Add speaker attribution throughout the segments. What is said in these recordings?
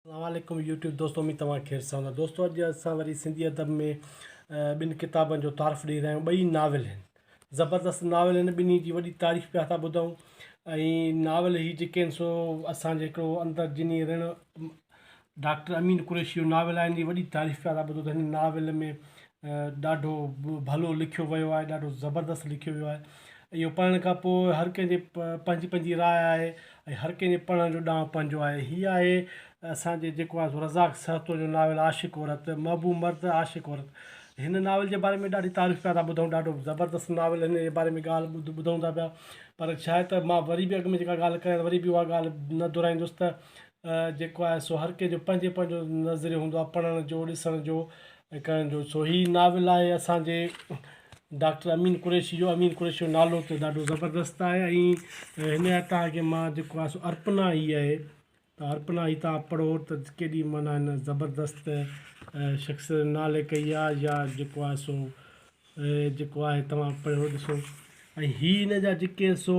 Speaker 1: اسلام عليڪم يوٽيوب دوستو اميد توهان خير سان هوندا دوستو اڄ اسان وري سنڌي ادب ۾ ٻن ڪتابن جو تعارف ڏيئي رهيا آهيون ٻئي ناول آهن زبردست ناول آهن ٻنهي جي وڏي تعريف پيا ٿا ٻڌون ۽ ناول هي جيڪي آهن سو اسانجي هڪڙو اندر جني رڻ ڊاڪٽر امين قريشي جو ناول آهن جي وڏي تعريف پيا رابطو ته هن ناول ۾ ڏاڍو ڀلو لکيو ويو آهي ڏاڍو زبردست لکيو ويو آهي اهو پڙهڻ کان پوء هر ڪنهن جي پنهنجي پنهنجي راء آهي ۽ هر ڪنهن جي پڙهڻ جو ڏانء پنهنجو آهي هي آهي اسانجي جيڪو آهي سو رزاق سهتو جو ناول عاشق عورت محبوب مرد عاشق عورت هن ناول جي باري ۾ ڏاڍي تعريف پيا ٿا ٻڌون ڏاڍو زبردست ناول هن جي باري ۾ ڳالهه ٻڌ ٻڌون ٿا پيا پر شايد ته مان وري به اڳ ۾ جيڪا ڳالهه ڪيا وري به اها ڳالهه نه دهرائيندس ته جيڪو آهي سو هر ڪنهن جو پنهنجي پنهنجو نظريو هوندو آهي پڙهڻ جو ڏسڻ جو ۽ ڪرڻ جو سو هي ناول آهي اسان جي ڊاڪٽر امين قريشي جو امين قريشي جو نالو ته ڏاڍو زبردست آهي ۽ هن جا تان کي مان جيڪو آهي سو ارپنا هي آهي ته ارپنا هي تان پڙهو ته ڪيڏي معنيٰ هن زبردست شخص نالي ڪئي آهي يا جيڪو آهي سو جيڪو آهي توهان پڙهيو ڏسو ۽ هي هن جا جيڪي سو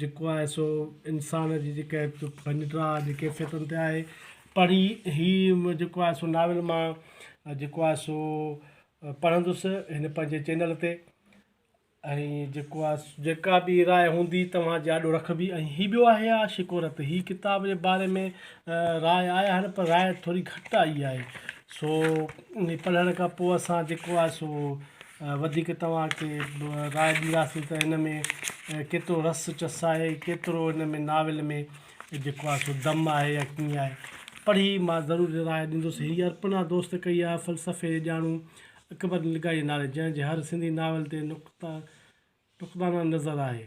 Speaker 1: جيڪو آهي سو انسان جي جيڪا هڪ پنهنجڙا جي ڪيفيتن تي آهي پڙهي هي جيڪو آهي سو ناول مان جيڪو آهي سو پڙهندس هن پنهنجي چينل تي ۽ جيڪو آهي جيڪا بي راء هوندي توهان جي آڏو رکبي ۽ هي ٻيو آهي عاشق عورت هي ڪتاب جي باري ۾ راء آيا آهن پر راء ٿوري گهٽ آئي آهي سو انهي پڙهڻ کان پوء اسان جيڪو آهي سو وڌيڪ توهان کي راء ڏينداسين ته هن ۾ ڪيترو رس چس آهي ڪيترو هن ۾ ناول ۾ جيڪو آهي سو دم آهي يا ڪيئن آهي پڙهي مان ضرور راء ڏيندس هي ارپن آ دوست ڪئي آهي فلسفي جي ڄاڻو اڪبر لغاري نالي جنهن جي هر سنڌي ناول تي نقطه نقطانه نظر آهي.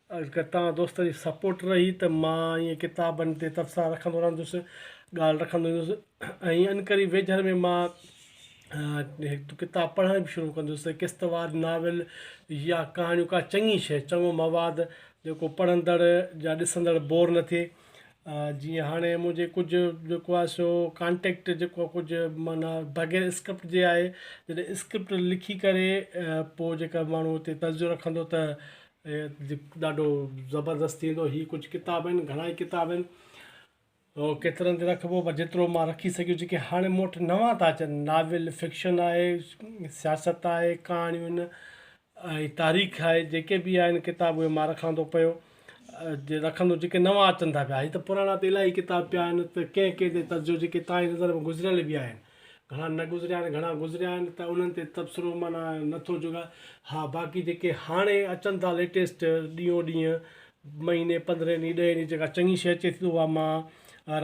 Speaker 1: اگر توهان دوستن جي سپورٽ رهي ته مان ائين ڪتابن تي تبصرا رکندو رهندس ڳالهه رکندو رهندس ۽ انقريب ويجهڙ ۾ مان هڪ ڪتاب پڙهڻ به شروع ڪندس قسط وار ناول يا ڪهاڻيون ڪا چڱي شيء چڱو مواد جيڪو پڙهندڙ يا ڏسندڙ بور نه ٿئي جيئن هاڻي منهنجي ڪجهه جيڪو آهي سو ڪانٽيڪٽ جيڪو آهي ڪجهه معنيٰ بغير اسڪرپٽ جي آهي جڏهن اسڪرپٽ لکي ڪري پوء جيڪا ماڻهو اتي تجزيو رکندو ته ڏاڍو زبردست ٿي ويندو هي ڪجهه ڪتاب آهن گهڻا ئي ڪتاب آهن ڪيترن تي رکبو پر جيترو مان رکي سگهيو جيڪي هاڻي مون وٽ نوان ٿا اچن ناول فڪشن آهي سياست آهي ڪهاڻيون آهن ۽ تاريخ آهي جيڪي به آهن ڪتاب اهي مان رکان ٿو پيو جي رکندو جيڪي نوان اچن ٿا پيا هي ته پراڻا ته الاهي ڪتاب پيا آهن ته ڪنهن ڪنهن تي ترجو جيڪي تاهين نظر ۾ گذريل بي آهن گهڻا نه گذريا آهن گهڻا گذريا آهن ته انهن تي تبصرو معنيٰ نه ٿو جوڳا ها باقي جيڪي هاڻي اچن ٿا ليٽيسٽ ڏينهون ڏينهن مهيني پندرهن ڏينهن ڏهين ڏينهن جيڪا چڱي شي اچي ٿي اها مان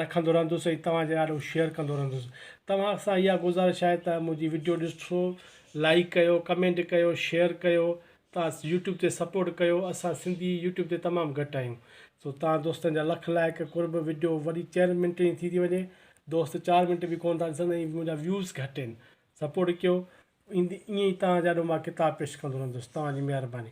Speaker 1: رکندو رهندس ۽ توهان جي آڏو شيئر ڪندو رهندس توهان سان اها گذارش آهي ته منهنجي وڊيو ڏسو لائڪ ڪيو ڪمينٽ ڪيو شيئر ڪيو توهان يوٽيوب تي سپورٽ ڪيو اسان سنڌي يوٽيوب تي تمام گهٽ آهيون سو توهان دوستن جا لک لائڪ قرب وڊيو وڏي چئن منٽن جي ٿي ٿي وڃي دوست چار منٽ به ڪون ٿا ڏسن ۽ منهنجا ويوز گهٽ آهن سپورٽ ڪيو ايئن ئي توهان جي آڏو مان ڪتاب پيش ڪندو رهندس توهان جي مهرباني.